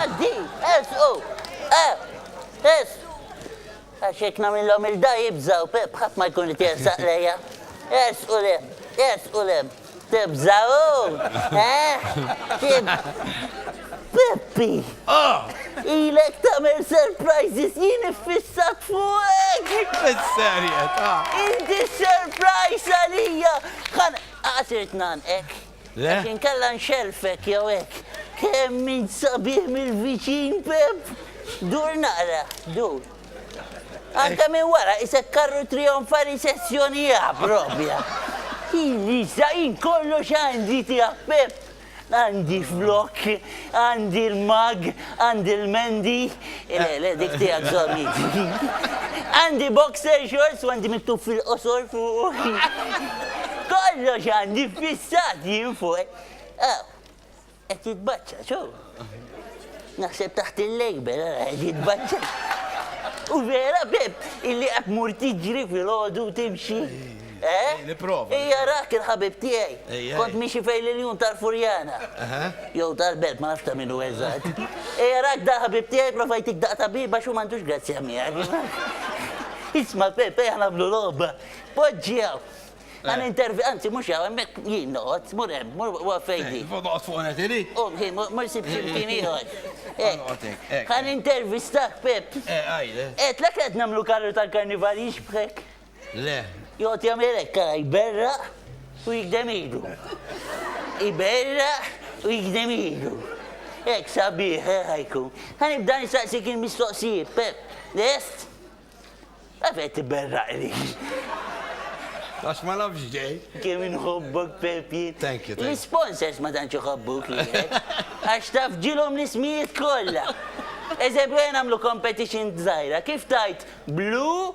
Għaddi, ersqu, eh, es. Għax jekk nagħmilhom il-da jibżaw, bħadd ma jkun qed jersaq lejja. Ersqu lem, ersqu lem. Tibżaw, eh? Tib. Peppi! Ah! Ilek tagħmel surprises jien iffissat fuqek! Fis-serjetà! Inti surprise għalija! Kan, għasirt nanqek. Le? Għax inkella nxellfek jew hekk. Kemm int sabiħ mill-viċin, Pepp! Dur naqra, dur. Anke minn wara qisek karru trijonfali sezzjoni A proprja. Jien issa jien kollox għandi tiegħek, Pepp. Għandi flokk, għandi l-mug, għandi l-mendi. Le, le, dik tiegħek żomm int. Għandi boxer shorts u għandi miktub fil-qosor fuq. Kollox għandi fissat jien fuq. Aw, qed jitbaċċa, ċo? Naħseb taħt il-lejber, qed jitbaċċa. U vera, Pep, illi qed mur tiġri fil-ħodu timxi. Eh? Nipprova. Ija rah kien ħabib tiegħi. Kont miexi fejn l-iljun tal-Furjana. Jew tal-Belt, ma nafx ta' min hu eżatt. Ija rak da ħabib tiegħi prova jtik daq tabib għax hu m'għandux grazzja miegħek. Isma' Pepe ħa nagħmlu logħba. Poġġi hawn. Għan intervi, anzi, mux għaw, għemmek jien noqot, mur hemm, mur għafejdi. Noqot fuq għet ili? U, jien, mur sib ximkien iħor. Għan intervi stak, Pep. Għajde. Et, l-ek għed namlu karru tal-karnival jixbħek. Le. Joqgħod jagħmel hekk ara jberraq u jigdem idu. Iberraq u jigdem idu. Hekk sabiħ eh, ħajku. Ħa nibda nistaqsik il-mistoqsijiet, Pep. Lest? Għalfejn qed tiberraq li? Għax ma nafx ġej. Kemm inħobbok Pepjin. Thank you, thank you. L-sponsors ma tantx iħobbuk li. Għax taf ġilhom l-ismijiet kollha. Eżempju għen għamlu competition żgħira. Kif tajt blu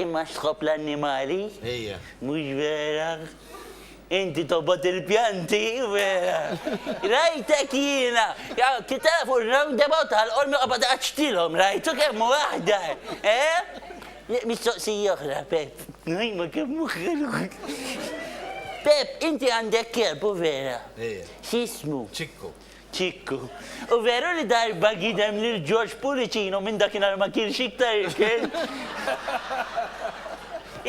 Imma x'tħobb l-annimali? Ejja. Mhux vera? Inti tobgħod il-pjanti, vera? Rajtek jiena! Kif tafu r-roundabout tal-Qormi qobgħod iqaċċtilhom, rajtu kemm hu aħdar, eh? Mistoqsija oħra, Pep. Imma kemm hu ħelu! Pep, inti għandek kelb, hu vera? Ejja. X'ismu? Ċikku. Ċikku, U veru li darba gidem lil George Pullicino u minn dakinhar ma kielx iktar ikel?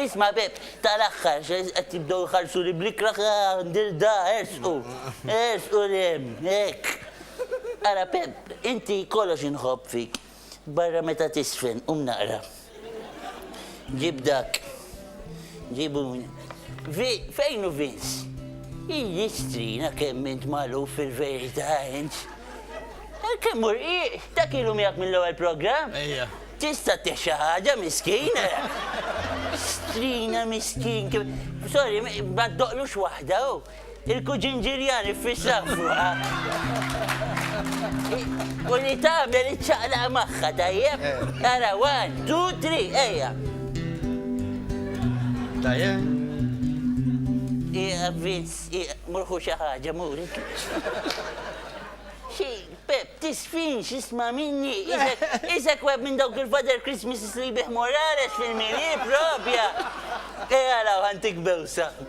Isma' Bepp, tal-aħħar qed jibdew iħarsuli bl-ikrah, ah, Ndirda, ersqu, ersqu 'l hemm, hekk. Ara Pepp, inti kollox inħobb fik. Barra meta tisfen, qum naqra. Ġib dak. Ġibu. Fejn u Vince? Iji strina kemm int malu fil-verità int. Eh, kemm u rqiq, ta' kilu miegħek mill-ewwel programm? Ejja. Tista' texa ħaġa miskin. Strina miskin. Sorry, ma doqlux waħda. Oh. Il-kuġin Ġiljan iffissa fuqha u li tagħmel iċċaqlaq magħha, tajjeb? Ara, one, two, three, ejja! Tajjeb? Ieqaf Vince, ieqaf, mur ħu xi ħaġa, mur. Xi, Pep, tisfinx, isma' minni, isek, isek web minn dawk il-Father Christmases li jbigħ Morales fil-milieu propja! Ejja araw ħa ntik bewsa.